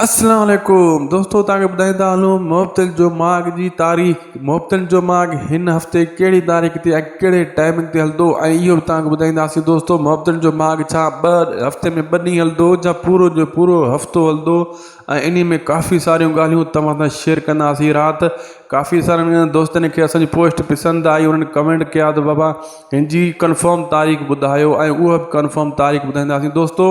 اسلام عليڪم دوستو توهان کي ٻڌائيندا هلون مبتل جو ماڳ جي تاريخ مبتل جو ماڳ هن هفتي ڪهڙي تاريخ تي ۽ ڪهڙي ٽائمنگ تي هلندو ۽ اهو به توهان کي ٻڌائينداسين دوستو مبتل جو ماڳ ڇا ٻه هفتي ۾ ٻه ڏينهن هلندو جا پورو جو پورو هفتو هلندو ۽ انهي ۾ ڪافي ساريون ڳالهيون توهان سان شيئر ڪنداسين رات ڪافي سارن دوستن کي اسانجي پوسٽ پسند آئي انهن ڪمينٽ ڪيا ته بابا هن جي ڪنفرم تاريخ ٻڌايو ۽ اهو به ڪنفرم تاريخ ٻڌائينداسين دوستو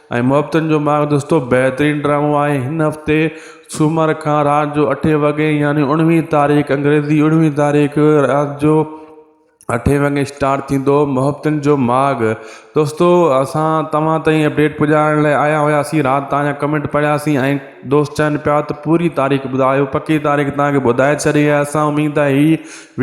۽ محبتن جو ماغ دوستو بهترين ڊرامو آهي هن هفتي سومر کان رات جو اٺين وڳي يعني اڻويهين تاريخ انگريزي اڻويهين تاريخ رات جو اٺين وڳي اسٽارٽ ٿيندو محبتن جو ماغ دوستو اسان توهان تائين اپڊيٽ پڄائڻ لاء آيا هياسين رات تان ڪمينٽ پڙهياسين ۽ دوست چون پيا ته پوري تاريخ ٻڌايو پڪي تاريخ تان ٻڌائي ڇڏي اسان اميد آهي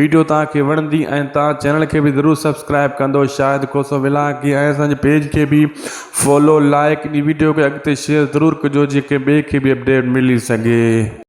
ويڊيو توهان کي وڻندي ۽ توهان چينل کي به ضرور سبسڪرائب ڪندو شاهد کوسو ويلاگي ۽ اسان جي پيج کي به فالو لائڪ ۽ ويڊيو کي اڳتي شيئر ضرور ڪجو جيئن ڪنهن ٻئي کي به اپڊيٽ ملي سگهي.